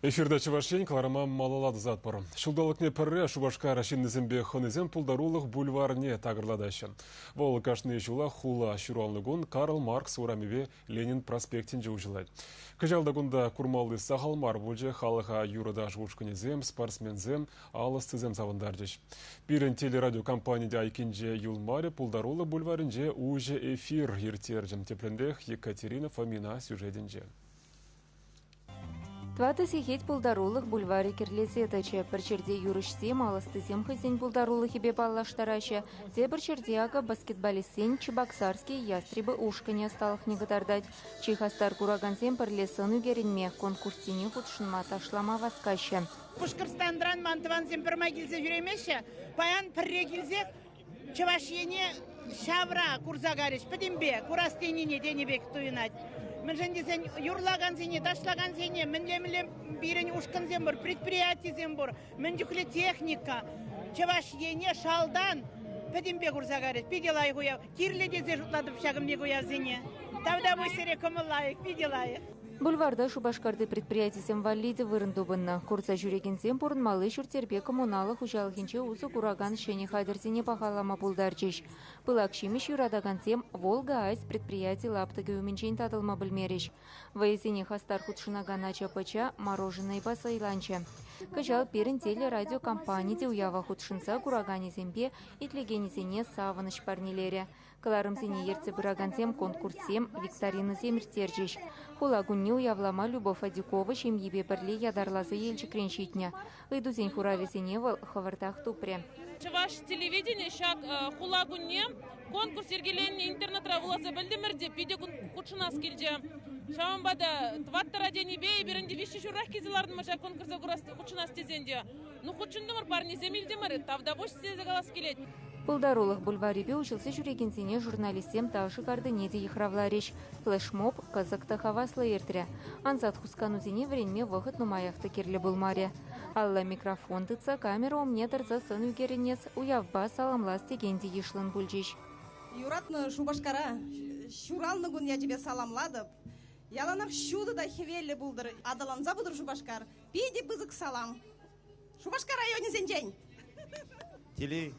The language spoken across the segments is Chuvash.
Эфирта Чӑваш Ен кӑларӑма малалла тӑсатпӑр. Ҫулталӑкне пӗрре Шупашкар ҫыннисемпе хӑнисем пултарулӑх бульварне такӑрлатаҫҫӗ. Вӑл кашни ҫулах хула ҫуралнӑ кун Карл Маркс урамӗпе Ленин проспектӗнче уҫӑлать. Кӑҫал та кунта курмалли сахал мар пулчӗ, халӑха юрӑ-таш ушкӑнӗсем, спортсменсем, ал ӑстисем савӑнтарчӗҫ. Пирӗн телерадиокомпани те айккинче юлмарӗ, пултарулӑх бульварӗнче уҫӑ эфир ирттерчӗ, тепринпех Екатерина Фомина сюжетӗнче. Тӑватӑ сехет пултарулӑх бульварӗ кӗрлесе тӑчӗ. Пӗр ҫӗрте юрӑҫсем, ал ӑстисем хӑйсен пултарулӑхӗпе паллаштараҫҫӗ, тепӗр ҫӗрте, акӑ, баскетболистсен Чебоксарский ястребы ушкӑнӗ ӑсталӑхне кӑтартать. Чи хастар куракансем пӗрле сӑн ӳкерӗнме, конкурссене хутшӑнма, ташлама васкаҫҫӗ. Пушкӑртстанран ман тӑвансем пӗрмай килсе ҫӳремеҫҫӗ. Паян пӗрре килсех Чӑваш Ене ҫавра курса карӗҫ пӗтӗмпе курас тенине тенӗ пек туйӑнать. Мӗншӗн тесен юрлакансене, ташлакансене мӗнле-мӗнле пирӗн ушкӑнсем пур, предприятисем пур, мӗн чухлӗ техника. Чӑваш Ене шалтан пӗтӗмпе курса карӗҫ. Питӗ лайӑх уяв. Кирлӗ тесе шутлатӑп ҫакӑн пек уявсене. Тавтапуҫ сире кӑмӑл лайӑх, питӗ лайӑх. Бульварта Шупашкарти предприятисем валли те вырӑн тупӑннӑ. Курса ҫӳрекенсем пурӑнмалли ҫурт-йӗрпе коммуналлӑ хуҫалӑхӗнче усӑ куракан ҫӗнӗ хатӗрсене пахалама пултарчӗҫ. Пылак ҫимӗҫ юратакансем «Волга-Айс» предприяти лаптӑкӗ умӗнчен татӑлма пӗлмерӗҫ. Вӑйӑсене хастар хутшӑнакан ача-пӑча мороженӑйпа сӑйланчӗ. Кӑҫал пирӗн телерадиокомпани те уява хутшӑнса кураканӗсемпе итлекенӗсене савӑнӑҫ парнелерӗ. Кӑларӑмсене ертсе пыракансем конкурссем, викторинӑсем ирттерчӗҫ. Хула кунне уявлама Любовь Адюкова ҫемйипе пӗрле ятарласа Елчӗкрен ҫитнӗ. Ыйтусен хуравӗсене вӑл хӑвӑртах тупрӗ. Чӑваш телевиденийӗ ҫак Хула кунне конкурс йӗркеленнӗ интернетра вуласа пӗлтӗмӗр те питӗ хутшӑнас килчӗ. Ҫавӑнпа та тӑваттӑра тенипе эпир ӗнтӗ виҫҫӗ ҫурах килсе лартӑмӑр ҫак конкурса хутшӑнас тесен те. Ну, хутшӑнтӑмӑр, парнесем илтӗмӗр, тавтапуҫ тесе калас килет. Пултарулӑх бульварӗпе уҫӑлса ҫӳрекенсене журналистсем ташӑ картине те йыхравларӗҫ. Флешмоб кӑсӑк та хаваслӑ иртрӗ. Ансат хусканусене вӗренме вӑхӑт нумаях та кирлӗ пулмарӗ. Алла микрофон тытса камера умне тӑрса сӑн ӳкерӗнес, уявпа саламлас текен те йышлӑн пулчӗҫ. Юратнӑ Шупашкара ҫуралнӑ кун ячӗпе саламлатӑп. Яланах ҫутӑ та хӗвеллӗ пултӑр, аталанса пытӑр Шупашкар! Питӗ пысӑк салам. Шупашкар районӗсенчен. Телей,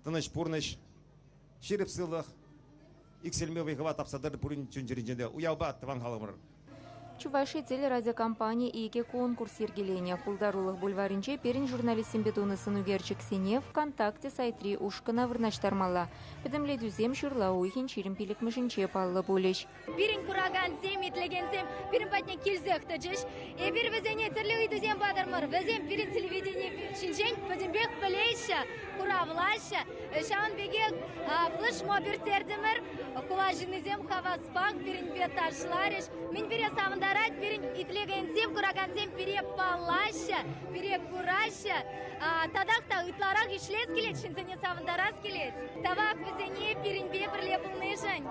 тӑнӑҫ пурнӑҫ, ҫирӗп сывлӑх, иксӗлми вӑй-хӑва тапса тӑр пурин чун-чӗринче те уявпа тӑван халӑхӑмӑр. Чуваши телерадиокомпани икӗ конкурс йӗркеленӗ. Пултарулӑх бульварӗнче пирӗн журналистсемпе тунӑ сӑнӳкерчӗксене ВКонтакте сайтри ушкӑна вырнаҫтармалла. Пӗтӗмлетӳсем ҫырла уйӑхӗн ҫирӗм пиллӗкмӗшӗнче паллӑ пулӗҫ. Пирӗн куракансем, итлекенсем пирӗн патне килсех тӑчӗҫ. Эпир вӗсене тӗрлӗ ыйтусем патӑмӑр. Вӗсем пирӗн телевидени ҫинчен пӗтӗмпех пӗлеҫҫӗ, хуравлаҫҫӗ. Ҫавӑн пекех флешмоб ирттертӗмӗр. Хула ҫыннисем хаваспах пирӗнпе ташларӗҫ. Мӗн пире савӑнтарать, пирӗн итлекенсем, куракансем пире паллаҫҫӗ, пире кураҫҫӗ. Татах та ытларах ӗҫлес килет, ҫынсене савӑнтарас килет. Тавах вӗсене пирӗнпе пӗрле пулнишӗн.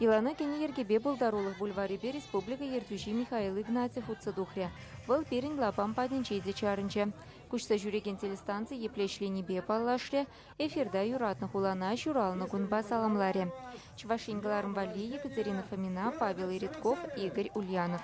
Илану кӗни йӗркепе пултарулӑх бульварӗпе республика ертӳҫи Михаил Игнатьев утса тухрӗ. Вӑл пирӗн лапам патӗнче те чарӑнчӗ. Куҫса ҫӳрекен телестанци епле ӗҫленине паллашрӗ, эфирта юратнӑ хулана ҫуралнӑ кунпа саламларӗ. Чӑваш Ен кӑларӑм валли Екатерина Фомина, Павел Иридков, Игорь Ульянов.